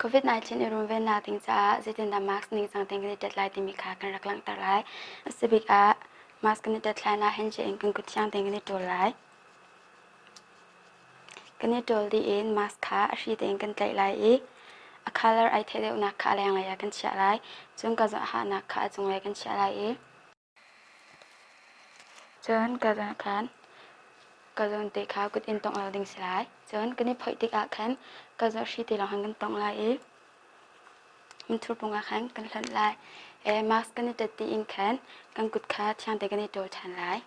COVID-19 i runvennak ding caah zeitindah mask ningcang tein kan i tet lai timi kha kan rak langhter lai. A si bik ah mask kan i tet hlan ah hand in kan kut thiang tein kan i ṭul lai. Kan i ṭawl dih in mask kha a hri tein kan tlaih lai i a colour ai theih deuhnak kha a lenglei ah kan chiah lai. Cun ka zoh ahahnak kha a cunglei kan chiah lai i cun ka zawn khan ka zawn te kha kut in tongh lo ding si lai. Cun kan i phoih tikah khan ka zoh hri te lawng khan kan tongh lai i mithur pung ah khan kan hlonh lai. E, mask kan i tat dih in khan kan kut kha thiang te kan i ṭawl ṭhan lai.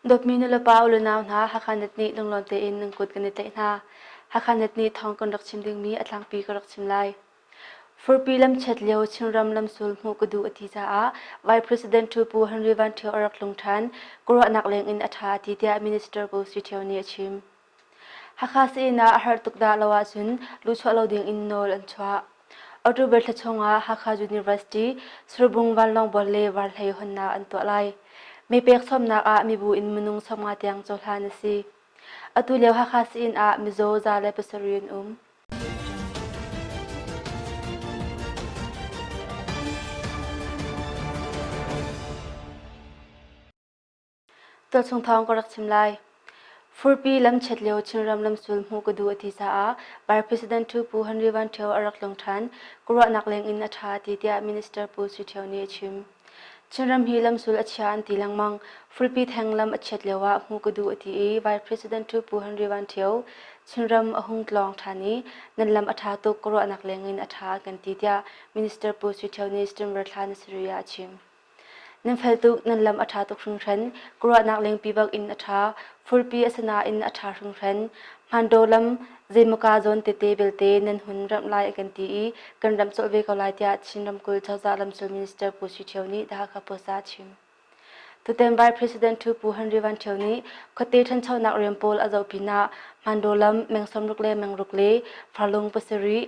Dawtmi nulepa u le nau hna Hakha net nih lunglawn tein nan kut kan i tlaih hna. Hakha net nih thawng kan rak chim dingmi a tlangpi ka rak chim lai. Furpi lamchiat lio Chinram lamsul hmuh ka duh a ti caah Vice President Pu Henry Van Ṭhio a rak tlung ṭhan. Ka ruahnak lengin a ṭha a ti tiah Minister Pu Sui Ṭhio nih a chim. Hakha Sii-inn ah a harh tuk dah lo ahcun luhchuah lo ding in nawl an chuah. October thla chung ah Hakha University Surbung Vanlawngbual le Varhlei hawnnak an tuah lai. Mi pek sawmnak ah mibu in minung sawmnga tiang cohlan a si. Atu lio Hakha Sii-inn ah mizaw za le pasarih an um. Tualchung thawng ka rak chim lai. Furpi lamchiat lio Chinram lamsul hmuh ka duh a ti caah Bar President Pu Pu Henry Van Ṭhio a rak tlung ṭhan. Ka ruahnak lengin a ṭha ti tiah Minister Pu Sui Ṭhio nih a chim. Chinram hi lamsul a chia an ti lengmang. Furpi theng lam a chiat lioah hmuh ka duh a ti i Vice President Pu Pu Henry Van Ṭhio Chinram a hung tlawng ṭhan i nan lam a ṭha tuk ka ruahnak lengin a ṭha kan ti tiah Minister Pu Sui Ṭhio nih Stimmer thla na sarih ah a chim. Nan fel tuk, nan lam a ṭha tuk hringhran, ka ruahnak lengpi bak in a ṭha, furpi a si nain a ṭha hringhran. Hmandaw lam zeimawka zawn tete belte nan hun ramh lai an kan ti i kan ramh colh ve ko lai tiah Chin ramkulh cozah lamsul minister Pu Sui Ṭhio nih Hakha Post ah a chim. Tutan Vai President Ṭhu Pu Henry Van Ṭhio nih khuate ṭhanchonak rian pawl a zoh pinah Hmandaw lam meng sawmruk le meng ruk le farlung pasarih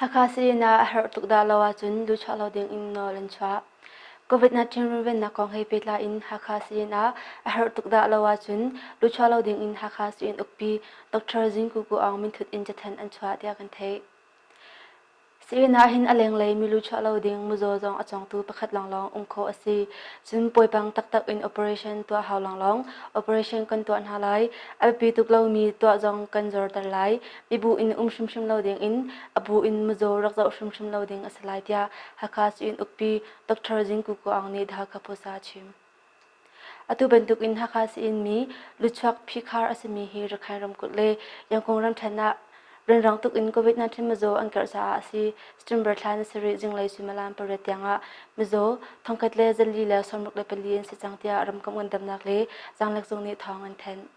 Hakha sayina a herh tuk dah lo ahcun duhchuah lo ding in nawl an chuah. COVID-19 runvennak kong he pehtlai in Hakha sayina a herh tuk dah lo ahcun duhchuah lo ding in Hakha Sui-inn ukpi Dr. Zingku Ku Aung minthut in cathanh an chuah tiah kan theih. Sayina hin a lenglei milu chuah lo ding muzaw zong a congtu pakhat lawnglawng um khawh a si. Cun puipang taktak in operation tuah hau lawnglawng operation kan tuah hna lai. A biapi tuk lomi tuah zong kan zorter lai. i bu in um hrimhrim lo ding in a bu in muzaw rak zoh hrimhrim lo ding a si lai tiah Hakha Syin Ukpi Dr. Zing Ku Kuang nih The Hakha Post ah a chim. Atu bantuk in Hakha Syin mi luchuak phikhar a simi hi Rakhine ramkulh le Yangkung ramthen ah rianrang tuk in COVID-19 mizaw an karh caah a si. September thla ni sarih zinglei suimilam pariat tiangah mizaw thongkhat le zali le sawmruk le pali an si cang tiah ramkomh ngandamnak le zanglek zung nih thawng an thanh.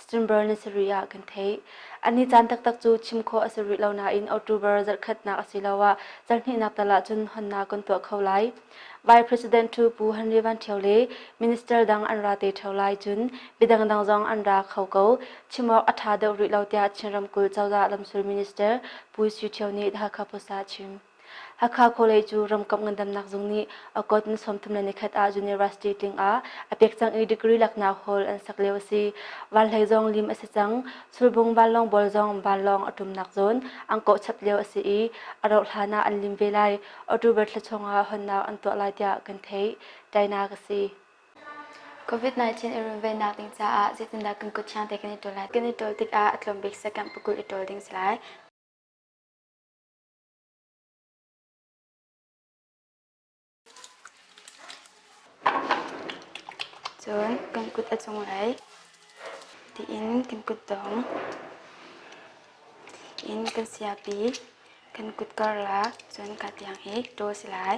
December na si rih ah kan theih. An ni caan taktak cu chim khawh a si rih lo nain October zarhkhatnak asiloah zarhnihnak tal ahcun honnak kan tuah kho lai. Vice President Pu Pu Henry Van Ṭhio le Minister dang an ra te ṭheo lai cun midangdang zong an ra kho ko. Chim awk a ṭha deuh rih lo tiah Chin ramkulh cozah lamsul minister Pu Suu Ṭhio nih Hakha Post ah a chim. Hakha Kawlei cu Ramkomh Ngandamnak Zung nih a kawt ni sawmthum le nikhat ah University tling ah a pek cang i degree laknak hall an sak lio a si. Vanhlei zong lim a si cang. Sulbung vanlawngbawl zong vanlawng a ṭumnak zawn an kawh chap lio a si i a rauh hlan ah an lim ve lai. October thla chung ah honnak an tuah lai tiah kan theih. Tainak a si. COVID-19 i runvennak ding caah zeitindah kan kut thiang te kan i ṭawl lai? Kan i ṭawl tikah a tlawm bik sakamh pakulh i ṭawl ding a si lai. Cun kan kut a cung aih tiin kan kutdong in kan siapi kan kut karlak cun kaa tiang hi ṭaw si lai.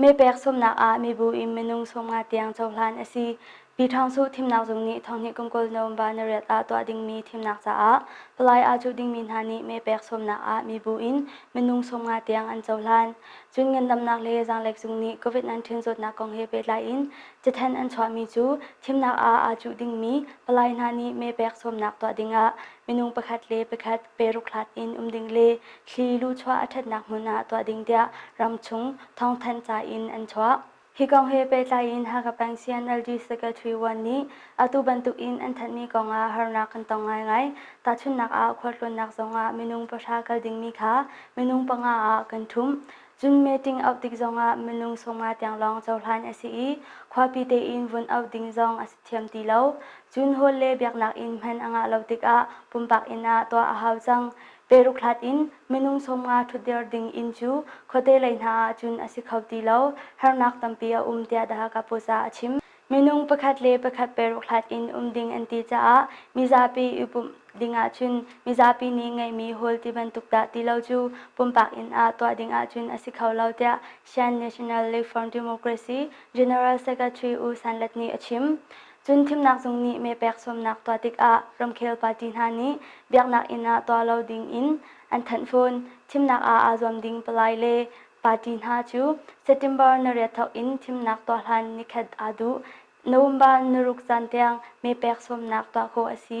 Mepek sawmnak ah mibu in minung sawmnga tiang cohlan a si. Pi Ṭhang Su thimnak zung nih thonghnih kum kul November nariat ah tuah dingmi thimnak caah palai aa cuh dingmi hna nih mepek sawmnak ah mibu in minung sawmnga tiang an cohlan. Cun ngandamnak le zaanglek zung nih COVID-19 zawtnak kong he pehtlai in cathanh an chuahmi cu thimnak ah aa cuh dingmi palai hna nih mepek sawmnak tuah dingah minung pakhat le pakhat peruk hlat in um ding le Thli luchuah a ṭhatnak hmun ah tuah ding tiah ramchung thawngthanh ca in an chuah. Hi kong he pehtlai in Hakha Pansian LD Secretary Wan nih atu bantuk in an thanhmi kong ah harnak kan tong ngaingai. Tahchunhnak ah khualtlawnnak zong ah minung pahra kal dingmi kha minung panga ah kan ṭhumh. Cun meeting auh tik zong ah minung sawmnga tiang lawng cohlan a si i khuapi tein vun auh ding zong a si thiam ti lo. Cun hawl le biaknak in hman a ngah lo tikah pumpak inn ah tuah a hau cang. Peruk hlat in minung sawmnga ṭhutder ding inn cu khuate lei hna ahcun a si kho ti lo, harnak tampi a um tiah The Hakha Post ah a chim. Minung pakhat le pakhat peruk hlat in um ding an ti caah mizapi i pumh ding ahcun mizapi nih ngeihmi hawl ti bantuk dah ti lo cu pumpak inn ah tuah ding ahcun a si kho lo tiah Shan National Reform Democracy General Secretary U San Lat nih a chim. Cun Thimnak Zung nih mehpek sawmnak tuah tikah ramkhel party hna nih biaknak inn ah tuah lo dingin an thanh fawn. Thimnak ah aa zuam ding palai le party hna cu September nariat thawk in thimnak tuah hlan nikhat aa duh. November niruk caan tiang mehpek sawmnak tuah khawh a si.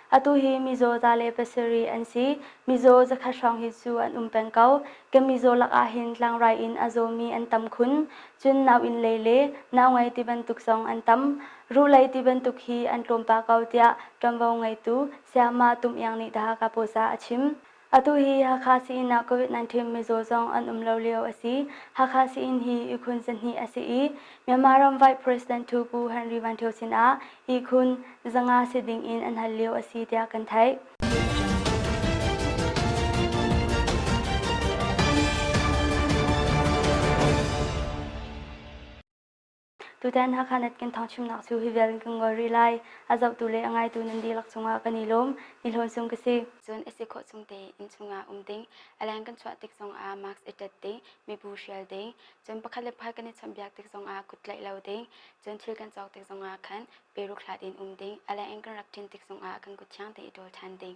Atu hi mizaw za le pasarih an si. Mizaw zakhat hrawng hi cu an um peng ko. Kan mizaw lakah hin tlangrai in a zawmi an tam khun. Cun nauinn lei le naungai tibantuk zong an tam. Ruhlei tibantuk hi an tlawmpal ko tiah ṭuanvo ngeitu Sayamah Tum Iang nih The Hakha Post ah a chim. Atu hi Hakha Sii-inn ah COVID-19 mizaw zong an um lo lio a si. Hakha Sii-inn hi ihkhun zahnih a si i, Myanmar ram Vice President Hu Pu Henry Van Thio sinah ihkhun zanga si ding in an hal lio a si tiah kan theih. Tutan Hakha Net kan thawngchimnak cu hi vial in kan ngol rih lai. A zohtu le a ngaitu nan dihlak cungah kan i lawm. Ni hlawn sung ka si. Cun a si khawh chung te inn chungah um ding. A leng kan chuah tik zongah mask i tat ding. Mibu hrial ding. Cun pakhat le pakhat kan i chawnhbiak tik zongah kut tlaih lo ding. Cun thil kan cawk tik zongah khan peruk hlat in um ding. A leng in kan rak ṭin tik zongah kan kut thiang te i ṭawl ṭhan ding.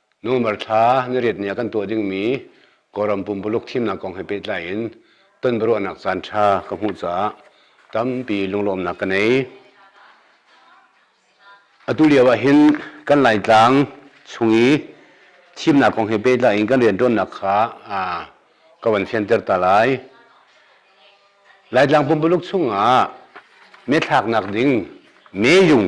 Numer thla nariat ni ah kan tuah dingmi Kawlram pumpuluk thimnak kong he pehtlai in tonbiaruahnak caan ṭha ka hmuh caah tampi lunglawmnak ka nei. Atu lio ah hin kan Laitlang chung i thimnak kong he pehtlai in kan rianṭuannak kha ka van fianter ta lai. Laitlang pumpuluk chung ah mee thlaknak ding meeyung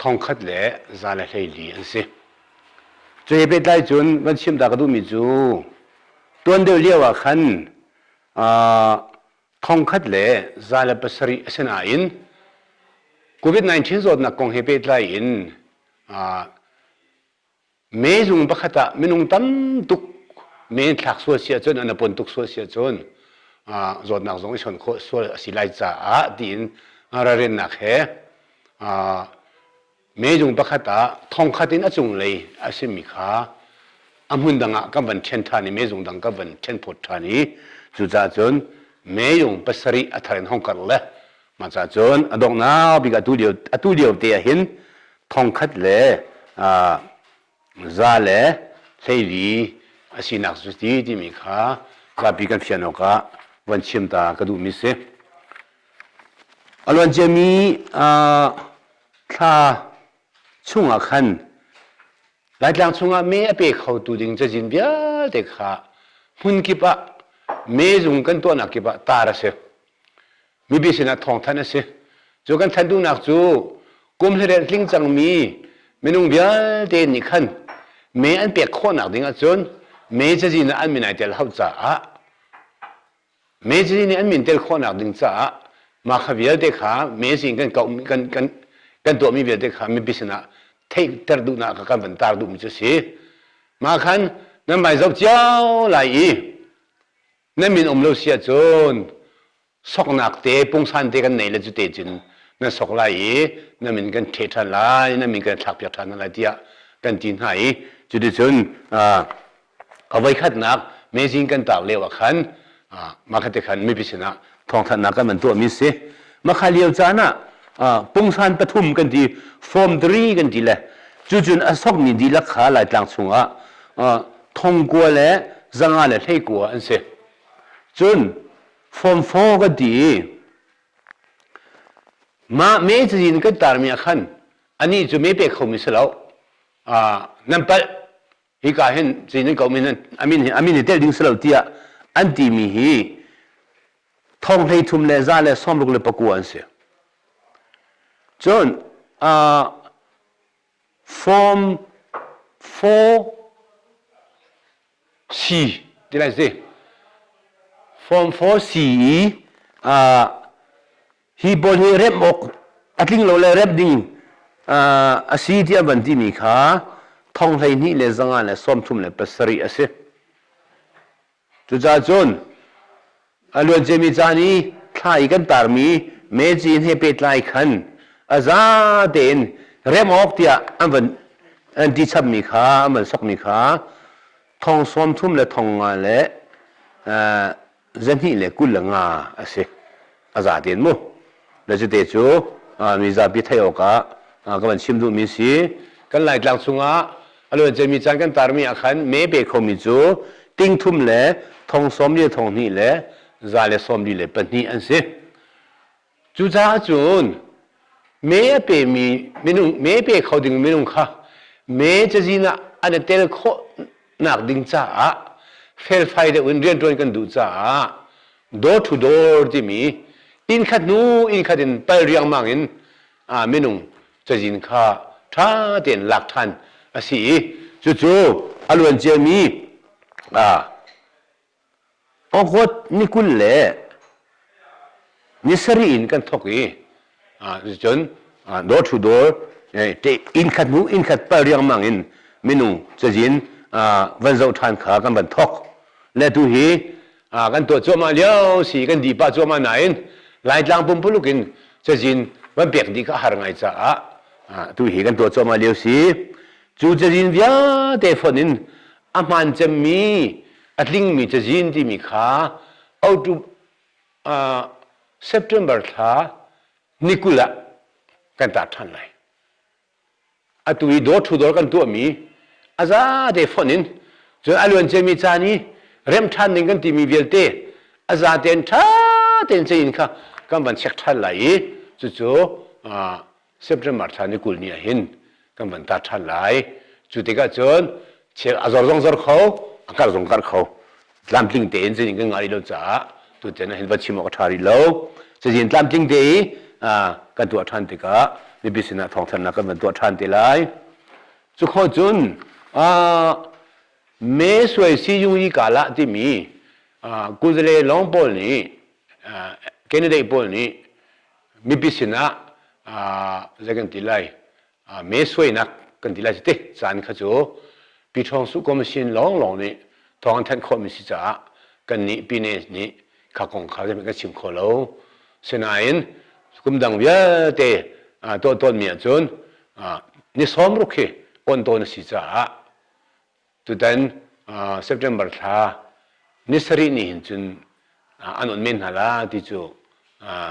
thongkhat le za le hleili an si. Cu he pehtlai cun van chim ta ka duhmi cu tuan deuh lio ah khan thongkhat le za le pasarih a si nain COVID-19 zawtnak kong he pehtlai in mezung pakhat ah minung tam tuk men thlak sual si ahcun an pon tuk sual si ahcun zawtnak zong i son khawh sual a si lai caah tiin ralrinnak he mezung pakhat ah thongkhat in a cunglei a simi kha a hmun dang ah kan van ṭhen ṭhan i mezung dang kan van ṭhen phawt ṭhan i cucaah cun mezung pasarih a thar in hong karh le Masa cun a dongnau bik atu lio atu lio te ah hin thongkhat le za le hleili a sinak cu ti timi kha zapi kan fian awkah van chim ta ka duhmi si. A luan ciami thla chungah khan Laitlang chungah me a pe khotu ding cazin vialte kha hmun kip ah mezung kan tuahnak kip ah tar a si. mipi sinah thawng thanh a si cu kan thanh duhnak cu kum hlireh tling cangmi minung vialte nih khan mee an pek khawhnak ding ahcun mee cazin ah an min ai tel hau caah mee cazin nih an min tel khawhnak ding caah mah kha vialte kha meazing kan kauh kan kan kan tuahmi vialte kha mipi sinah theihter duhnak kan van tar duhmi cu si mah khan nan vai zoh cio lai i na min um lo si ahcun soknak te pungsan te kan nei le cute cun na sok lai i na min kan ṭhe ṭhan lai na min kan thlak piak ṭhan lai tiah kan ti hna i cuticun a voikhatnak mezing kan taak lio ah khan mah kha te khan mipi sinah thawngthanhnak kan man tuahmi si makha lio caan ah pungsan pathum kan ti form three kan ti le cucun a sokmi dihlak kha laitlang chungah thongkua le zanga le hleikua an si cun form four kan ti i mah me cazin kan tarmi ah khan anih cu me pe khomi si lo nan palh hika hin chin komin in amin hi amin hi tel ding si lo tiah an ti mi hi thong hlei thum le za le sawm ruk le pakua an si cun uh, form 4C ti lai si form 4CE uh, hi pawl hi remh awk a tling lo le remh ding a si tiah van timi kha thong hleihnih le zanga le sawmthum le pasarih a si cucaah cun a luanciami caan i thla i kan tarmi meci he pehtlai khan a za tein remh awk tiah an van an ti chammi kha an van sokmi kha thong sawmthum le thong nga le zahnih le kul le nga a si a za tein mu na cute cu mi zapi theih awkah ka van chim duhmi si kan laitlang chungah a luan cemmi caan kan tarmi ah khan me pe khomi cu tingthum le thong sawm li le thong hnih le za le sawm li le pahnih an si Cucaah cun mee a pemi minung mee pe kho ding minung kha mee cazin ah an i tel khawh nak ding caah felfai deuh in rianṭuan kan duh caah door to door timi inn khat hnu inn khat in pal riangmang in minung cazin kha ṭha tein lak ṭhan a si i cucu a luanciami Ohot ni kul le ni sarih in kan thok i cun dawr thu dawr inn khat hnu inn khat pal riangmang in minung cazin van zoh ṭhan kha kan van thok. Le tu hi kan tuah cuahmah lio si kan di pah cuahmah nain Laitlang pumpuluk in cazin van pek dih kha a har ngai caah tu hi kan tuah cuahmah lio si. Cu cazin vialte fonh in a hmaan cemmi a tlingmi cazin timi kha out of uh, September thla ni kul ah kan tar ṭhan lai atu i dawr thu dawr kan tuahmi a zate fonh in cun a luan cemi caan i remh ṭhan ding kan timi vialte a zate in ṭha tein cein kha kan van check ṭhan lai i cucu uh, September thla ni kul ni ah hin kan van tar ṭhan lai. Cu tikah cun chel a zor zong zor kho, a karh zong karh kho. Tlamtling tein cazin kan ngah rih lo caah tutan ah hin va chim awk a ṭha rih lo. Cazin tlamtling te i kan tuah ṭhan tikah mipi sinah thawngthanhnak kan van tuah ṭhan te lai. Cu kho cun Me Suai Si Yung Yi Kala timi kuzale lawng pawl nih candidate pawl nih mipi sinah zei kan ti lai mee suainak kan ti lai ti caan kha cu Pi Ṭhawng Suh Commission lawnglawng nih thawng an thanh khawhmi si caah kannih Pines nih kha kong kha zeihmanh kan chim kho lo. Sinain kum dang vialte tuah tawnmi ahcun ni sawm ruk hi awnh tawn a si caah Tutan September thla ni sarih ni hin cun an on men hna la ti cu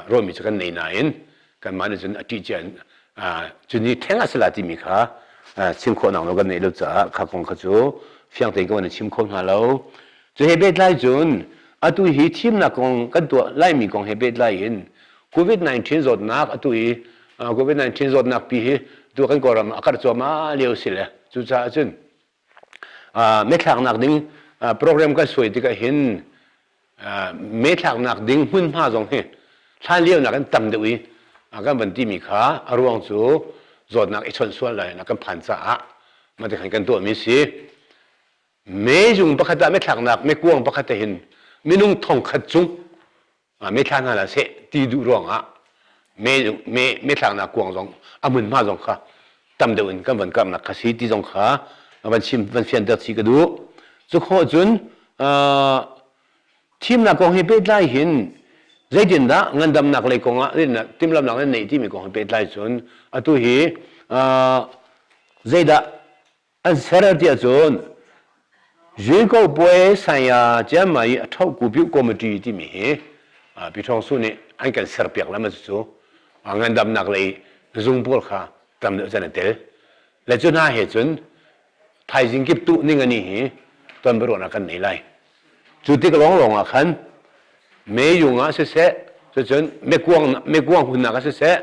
ruahmi cu kan nei nain kanmah nih cun a ṭih cia in cu ni theng a si la timi kha chim khawh nawn lo kan neih lo caah kha kong kha cu fiang tein kan chim kho hna lo. Cu he pehtlai cun atu hi thimnak kong kan tuah laimi kong he pehtlai in COVID-19 zawtnak atu i COVID-19 zawtnak pi hi tu kan Kawlram a karh cuahmah lio si le cucaah cun methlaknak ding program kan suai tikah hin methlaknak ding hmunhma zong hi hlan lionak in tam deuh i kan van timi kha a ruang cu zawtnak i chawnh sual lai kan phan caah mate khan kan tuahmi si me zung pakhat ah methlaknak mekuang pakhat hin minung thongkhat cung mitthla hna hlah seh ti duh ruangah mithlaknak kuang zong a hmunhma zong kha tam deuh in kan van karhnak kha si ti zong kha van chim van fianter si ka duh cukhawh cun thimnak kong he pehtlai hin zeitindah ngandamnak lei kongah timhlamhnak nan neih timi kong he pehtlai cun atu hi zeidah an ser ti ahcun Zinko puai saya Cianma i a thoku piu committee timi hi Pi Thawng Su nih an kan ser piak lam cu ngandamnak lei zung pawl kha tam deuh can a tel le cu hna he cun thaizing kip tuh ningani hi tonbiaruahnak kan nei lai cu tik lawnglawng ah khan meyung ah siseh cun mekuang mekuang hunnak ah siseh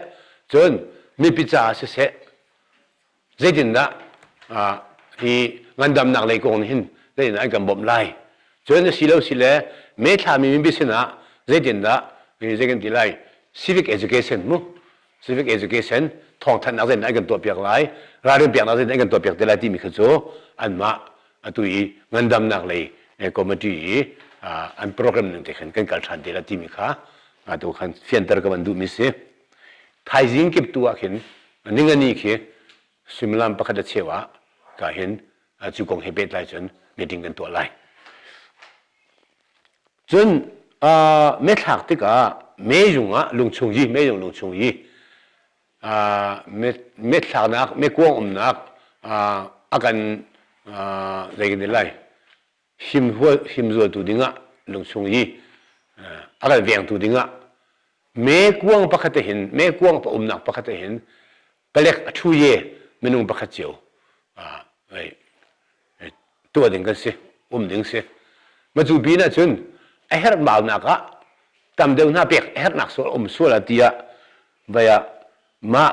cun mipi caah siseh zeitindah hi ngandamnak lei kong nih hin zeitindah an kan bawmh lai cun a si lo si le meithlami mipi sinah zeitindah zei kan ti lai civic education mu civic education thawngthanhnak zeitindah an kan tuahpiak lai ralrin piaknak zeitindah an kan tuahpiak te lai timi kha cu anmah atu i ngandamnak lei committee i an program ning te khan kan kal ṭhan te la timi kha tu khan fianter ka van duhmi si thaizing kip tu ah khin Ningani khi suimilam pakhat a cheu ah ka hin cu kong he pehtlai cun meeting kan tuah lai. Cun methlak tikah meizung ah lungchung yi meizung lungchung yi methlaknak mekuang umnak a kan zei kan ti lai himzualtu dingah lungchung i a kal vengtu dingah me kuang pakhat te hin me kuang pa umnak pakhat te hin palek a ṭhu ye minung pakhat cio tuah ding kan si um ding si matu pin ah cun a herhbaunak ah tam deuh hna pek a herhnak sual a um sual ah ti ah vai ah mah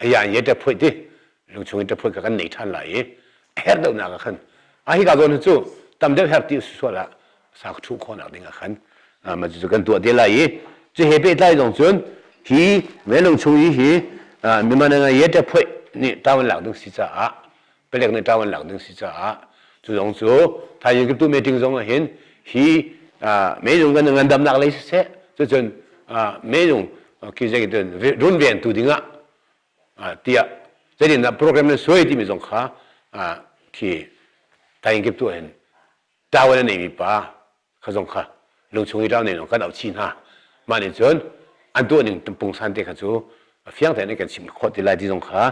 aya ye te phoi ti lungchung in te phoi ka kan nei than la i her deuh nak ah khan a hi ka zawn cu tam deuh her ti su la sa thu kho nak ding ah khan ma cu kan tuah de la i chu he pe tlai dong chun hi me lung chung hi hi mi man nga ye te phoi ni tawan lak ding si cha a palek nih ṭawan lak ding si caah cu zong cu thaizing kiptu meeting zong ah hin hi meizung kan ngandamnak lei siseh cucun meizung kizai cun runven tu ding ah tiah zeitindah program na suai timi zong kha khi thaizing kiptu hin ṭawan a neimi pa ka zong kha lungchung i ralnen kan auh chih hna mah nih cun an tuahning pung san te kha cu fiang tein kan chim khawh ti lai ti zong kha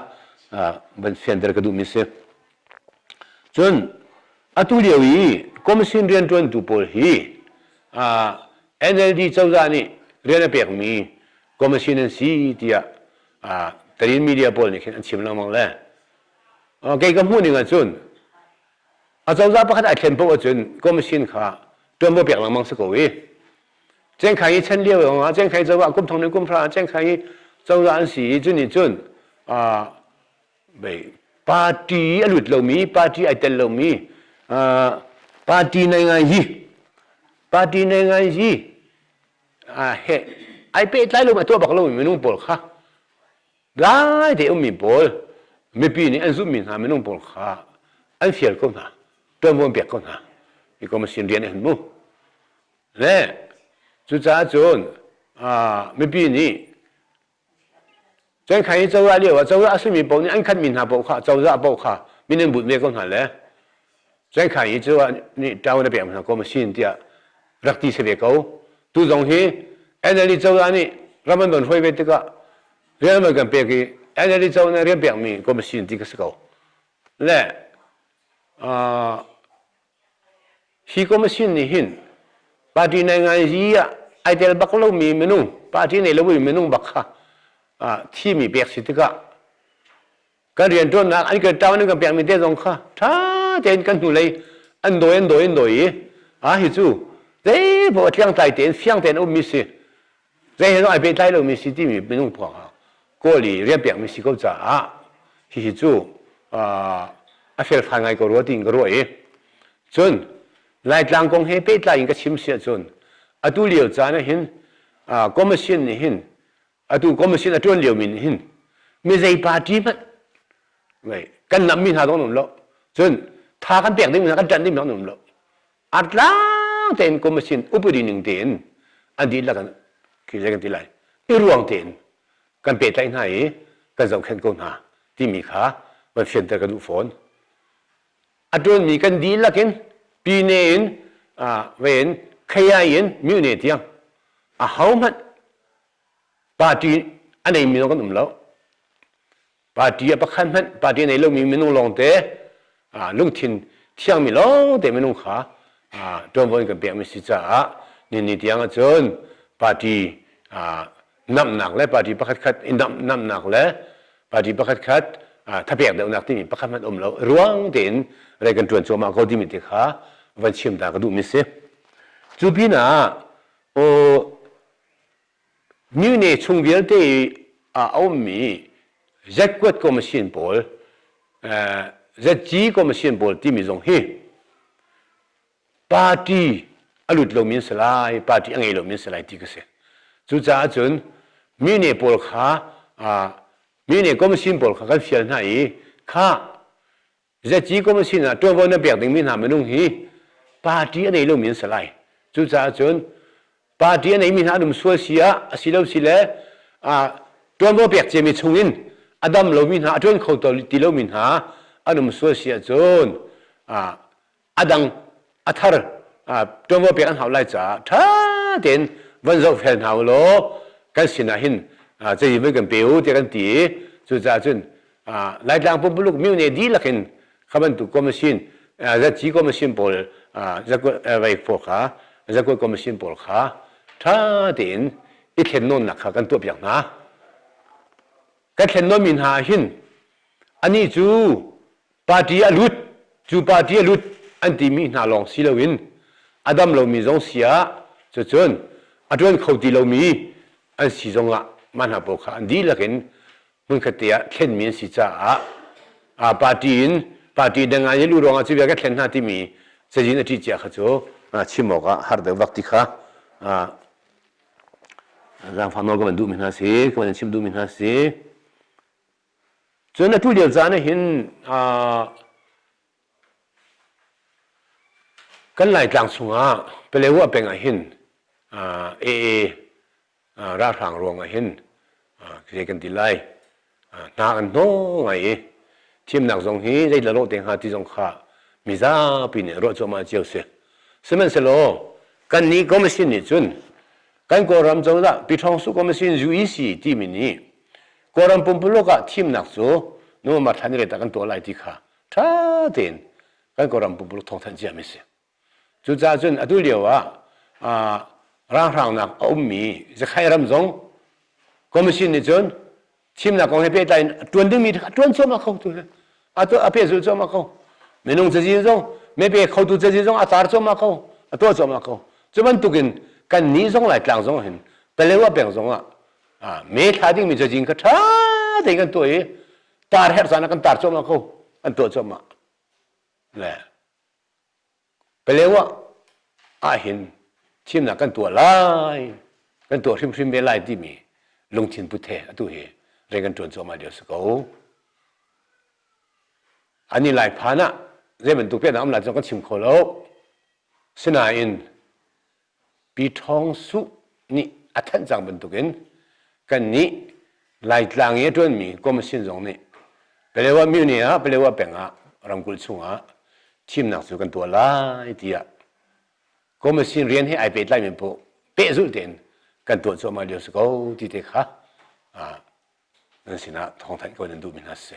van fianter ka duhmi si cun atu lio i commission rianṭuantu pawl hi NLD cozah nih rian a pekmi commission an si tiah Tarin media pawl nih khin an chim lengmang le kei ka hmuh ning ahcun Acozah pakhat ai thlen paoh ahcun commission kha ṭuanvo pek lengmang si ko i Cengkhai i chan lio ah Cengkhai cozah ah kumthong le kumhra ah Cengkhai i cozah an si i cu nih cun party a lut lomi party ai tel lomi party nei ngai hi party nei ngai hi ai pehtlai lo a tuah bak lomi minung pawl kha Lai te ummi pawl mipi nih an zumhmi hna minung pawl kha an fial ko hna, ṭuanvo an pek ko hna, i komasin rian an hun mu. Le cucaah cun mipi nih Cuankhan i cozah lioah cozah a simi paoh nih an khatmi hna paoh kha cozah paoh kha min an bunh ve ko hna le Cuankhai hi cu nih ṭaung na pek hna ko masin tiah rak ti si ve ko. Tu zong hi NLD cozah nih ram an von hruai ve tikah rian an von kan pek i NLD cozah nih rian pekmi ko masin ti ka si ko. Le hi ko masin nih hin party nai ngai ah ai tel bak lomi minung party nei lomi minung bak kha thimi pek si tikah kan rianṭuannak an kan ṭang an kan pekmi te zong kha ṭha tein kan hnulei an dawi an dawi an dawi i a hi cu zeipaoh tliangtlai tein fiang tein ummi si zei he zong ai pehtlai lomi si timi minung pawng ah kawl i rianpekmi si ko caah hihi cu a felfai ngai ko rua tiin ka ruah i cun laitlang kong he pehtlai in ka chim si ahcun atu lio caan ah hin commission nih hin atu commission a tuan liomi nih hin mi zei party hmanh kan nammi hna zong um lo cun tha kan pek ding kan ṭanh ding zong um lo artlang tein commission upadi ning tein an dihlak in khi zai kan ti lai i ruang tein kan pehtlaih hna i kan zohkhenh ko hna timi kha van fianter ka duh fawn a ṭuanmi kan dihlak in pine in ven khayai in myu ne tiang a hohmanh party a neimi zong kan um lo party a pakhat hmanh party a nei lomi minung lawngte lungthin thiangmi lawngte minung kha ṭuanvo in kan pekmi si caah ninni tiang ahcun party namhnak le party pakhatkhat i namhnak le party pakhatkhat thapek deuhnak timi pakhat hmanh um lo ruang tein rei kan ṭuan cuahmah ko timi te kha van chim ta ka duhmi si cu pin ah new ne chung vialte i a ummi Z kuat ko machine pawl ZG ko machine pawl timi zong hi party a lut lomi an si lai party a ngei lomi an si lai ti ka si cucaah cun mi ne pawl kha mi ne commission pawl kha kan fial hna i kha zaci commission ah ṭuanvo na pek dingmi hna minung hi party a nei lomi an si lai cucaah cun party a neimi hna an um sual si ah a si lo si le ṭuanvo pek ciami chungin a dam lomi hna a ṭuan kho ti lomi hna an um sual si ahcun a dang a thar ṭuanvo pek an hau lai caah ṭha tein van zohfel hna u law kan sinah hin zeitin voi kan pe u tiah kan ti i cucaah cun Laitlang pumpuluk myohne dihlak in kha bantuk komisin zatci komisin pawl veifuak kha zakuat komisin pawl kha ṭha tein i thlen nawnnak kha kan tuah piak hna kan thlen nawnmi hna ah hin anih cu party a lut cu party a lut an timi hna lawng si loin a dam lomi zong si ah cucun a ṭuan kho ti lomi an si zong ah mah hna pawl kha an dihlak in hmunkhat te ah thlenmi an si caah party in party dang ah an luh ruangah cu vialte thlen hna timi cazin a ṭih cia kha cu chim awkah har deuh bak ti kha zaangfak nawl ka van duhmi hna si ka van chim duhmi hna si Cun a tu lio caan ah hin kan Laitlang chungah Palewo a peng ah hin AA ralhrang ruang ah hin zei kan ti lai hna an hnawh ngai i thimnak zong hi zei la lawh te hnga ti zong kha mizapi nih ruah cuahmah cio a si. Sihmanhsehlaw kannih Commission nih cun kan Kawlram cozah Pi Ṭhawng Suh Commission, UEC timi nih Kawlram pumpuluk ah thimnak cu nu ma thlan re ta kan tuah lai ti kha ṭha tein kan Kawlram pumpuluk thawngthanh cia mi si. Cucaah cun atu lio ah ranghrangnak a ummi Zakhay ram zong Commission nih cun thimnak kong he pehtlai in a ṭuan dingmi kha ṭuan cuahmah ko tu a pehzul cuahmah ko minung cazin zong mebe khotu cazin zong a tar cuahmah ko a tuah cuahmah ko cu bantukin kan nih zong Laitlang zong hin Paletwa peng zong ah me thla dingmi cazin kha ṭha tein kan tuah i tar her zan ah kan tar cuahmah ko an tuah cuahmah le paleo ah ah hin thimnak kan tuah lai kan tuah hrimhrim ve lai timi lungthin puthe atu hi reng kan ṭuan cuahmah lio si ko an i lai phan ah zei bantuk pian ah um lai cu kan chim kho lo sinain Pi Ṭhawng Suh nih a thanh cang bantukin kannih Laitlang i a ṭuanmi Commission zong nih Palewa Muni ah Palewa peng ah ramkulh chungah thimnak cu kan tuah lai tiah Commission rian he ai pehtlaimi paoh pehzulh tein kan tuah cuahmah lio a si ko ti te kha nan sinah thawngthanh ko in duhmi hna si.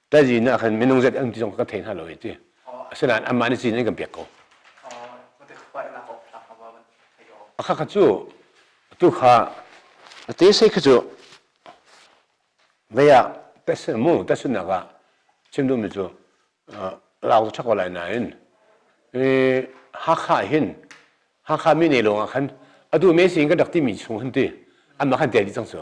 Taji nih khan minung zet an ti zong ka thei hna lo i ti. Asinain anmah nih cin an kan pek ko. Akha kha cu tu kha te sai kha cu vaya tasun mu tasun nak ah chim duh mi cu lau chak ko lai nain Hakha hin Hakha mi ne lawng ah khan atu me sin kan rak ti mi chung hin ti anmah khan tel dih cang cu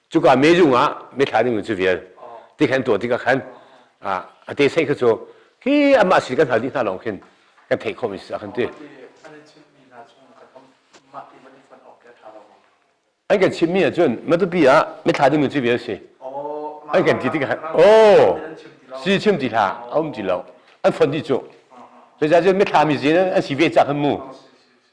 cuka mezung ah mithla ding cu vial ti khan tuah tikah khan a te saih kha cu khi amah sin kan hal dih hna lawng khin kan theih khawh mi si kan ti an kan chimmi ahcun matupi ah mithla ding cu vial si an kan ti tikah oh si chim ti hla a um ti lo an fon ti cu zeicah cun mithla mi zin an si ve cak an mu